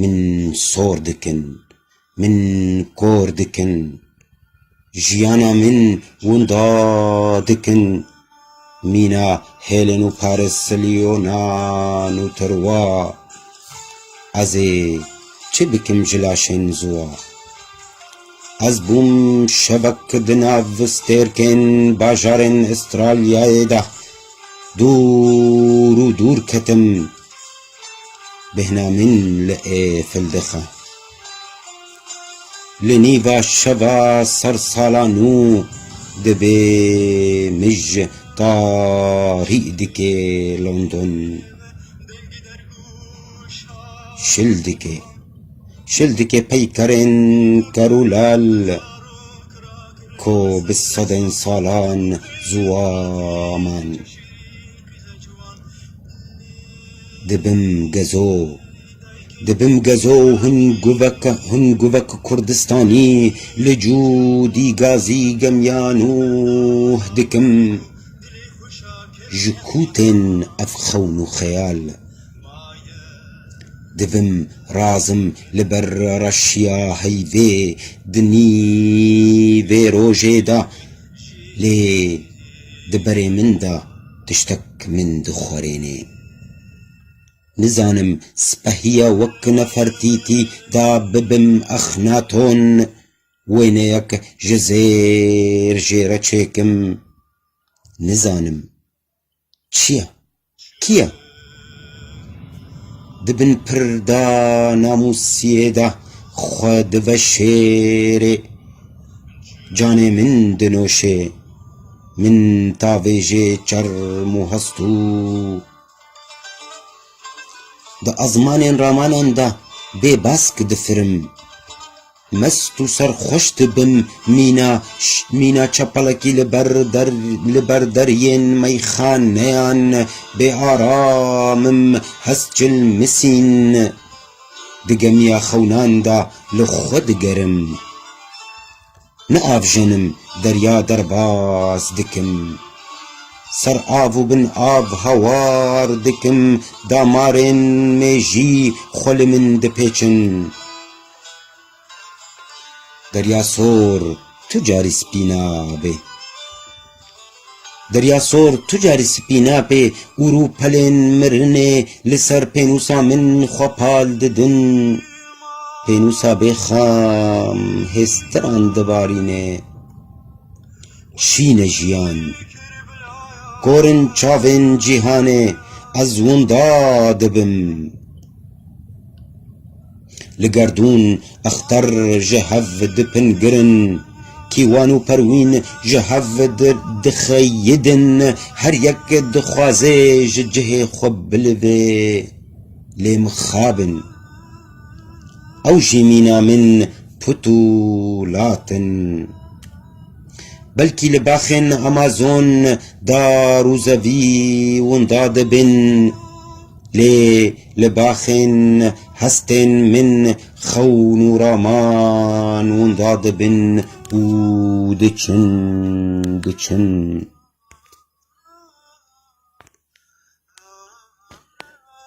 Min sor dikin, min kor dikin, jiyana min winda dikin, mîna hêlên û parisiliyonan û tirwa, ez ê çi bikim ji laşên ziwa? Ez bûm şevek di nav stêrkên bajarên Îstralyayê de, dûr û dûr ketim. Bêhna min li ê fil dixe. Li nîva şeva ser sala nû divê mij tarî dikê London. Şil dikê. Şil dikê peykerên ker û lal ku bi sedên salan ziwaman. Dibim gezo, dibim gezo hin guvek hin guvek Kurdistanî li cû dî gazî gemiya nû dikim ji kû tên ev xewn û xeyal Divim razim li ber reşiya heyvê di nîvê rojê de Lê di berê min de tiştek min dixwerênê. Nizanim sipehiya wek Nefertîtî de bibim Exnaton, wêneyek ji zêr jê re çêkim. Nizanim. Çi ye? Kî ye? Di bin pirda namûsiyê de xwe diveşêrê. Canê min dinoşê. Min tavêjê çerm û hestû. Di azmanên ramanan de bêbask difirim. Mest û serxweş dibim. Mîna mîna çepelekî li ber der li ber deriyên meyxaneyan bê aram im hest ji li misîn di gemiya xewnan de li xwe digerim. Niavjenim derya derbas dikim. Ser av û bin av hawar dikim. Damarên mêjî xwe li min dipêçin. Derya sor tu carî spî nabê. Derya sor tu carî spî nabê û rû pelên mirinê li ser pênûsa min xwe pal didin. Pênûsa bê xam hêstiran dibarîne. Şîn e jiyan. Korin çavên cîhanê ez winda dibim. Li gerdûn exter ji hev di pingirin, Kîwan û perwîn ji hev di dixeyidin, Her yek dixwaze ji cihê xwe bilivê lê mixab in, Ew jî mîna min put û lat in. Belkî li baxên Amazon dar û zevî winda dibin, Lê li baxên hestên min xewn û raman winda dibin û diçin, diçin.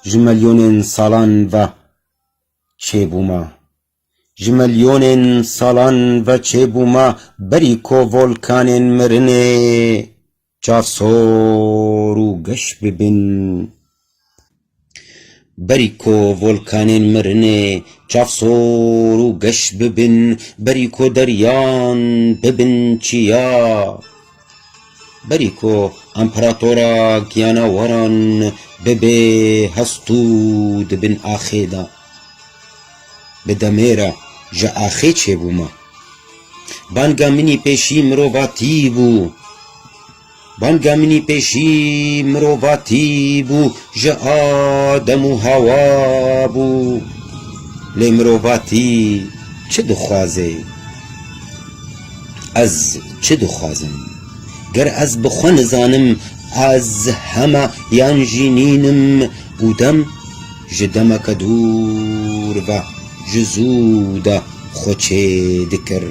Ji milyonên salan ve çêbûma, ji milyonên salan ve çêbûma berî ku volkanên mirinê, Çar sor û geş bibin. Berî ko volkanên mirinê çar sor û geş bibin, berî ko deryan bibin çiya, berî ko emperatora giyanawaran bibê hest û di bin axê de. Bi demê re ji axê çêbûma. Banga minî pêşî mirova tî bû. Banga minî pêşî mirova tî bû ji Adem û Hawa bû. Lê mirova tî çi dixwazê? Ez çi dixwazim? Ger ez bi xwe nizanim ez hema yan jî nîn im û dem. Ji demeke dûr ve ji zû de xwe çê dikir.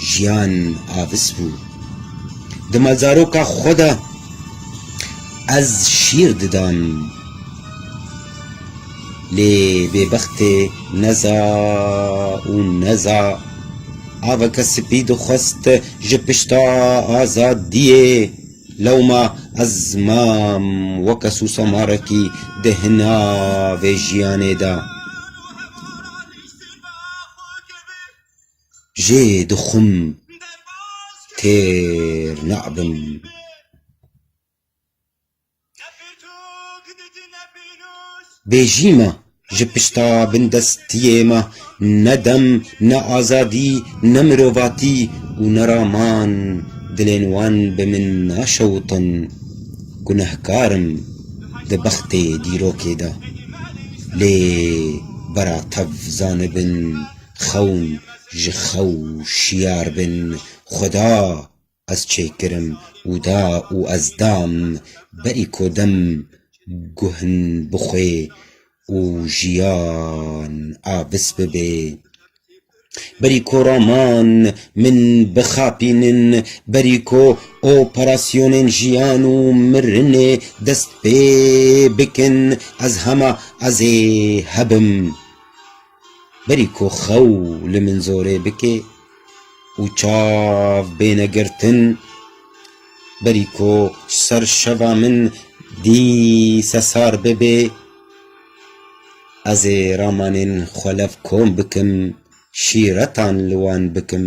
Jiyan avis bû. Di mezaroka xwe de ez şîr didam. Lê bêbextê neza û neza aveke spî dixwest ji pişta azadiyê Lewma ez mam weke sûsamarekî di hina vê jiyanê de jê dixwim têr nabim. Bêjî me. Ji pişta bindestiyê me ne dem, ne azadî, ne mirovatî û ne raman dilên wan bi min naşewitin. Gunehkar im di bextê dîrokê de. Lê bera tev zanibin xewn ji xew şiyar bin. Xweda Ez çêkirim û da û ez dam berî kodem guhin bixwê û jiyan a vis bibê. Berî ko roman min bixapînin, berî ko operasyonên jiyan û mirinê dest pê bikin, ez hema ez ê hebim. Berî ku xew li min zorê bike û çav bêne girtin, berî ku ser şeva min dîse sar bibe, ez ê ramanên xwe levkom bikim, şîretan li wan bikim.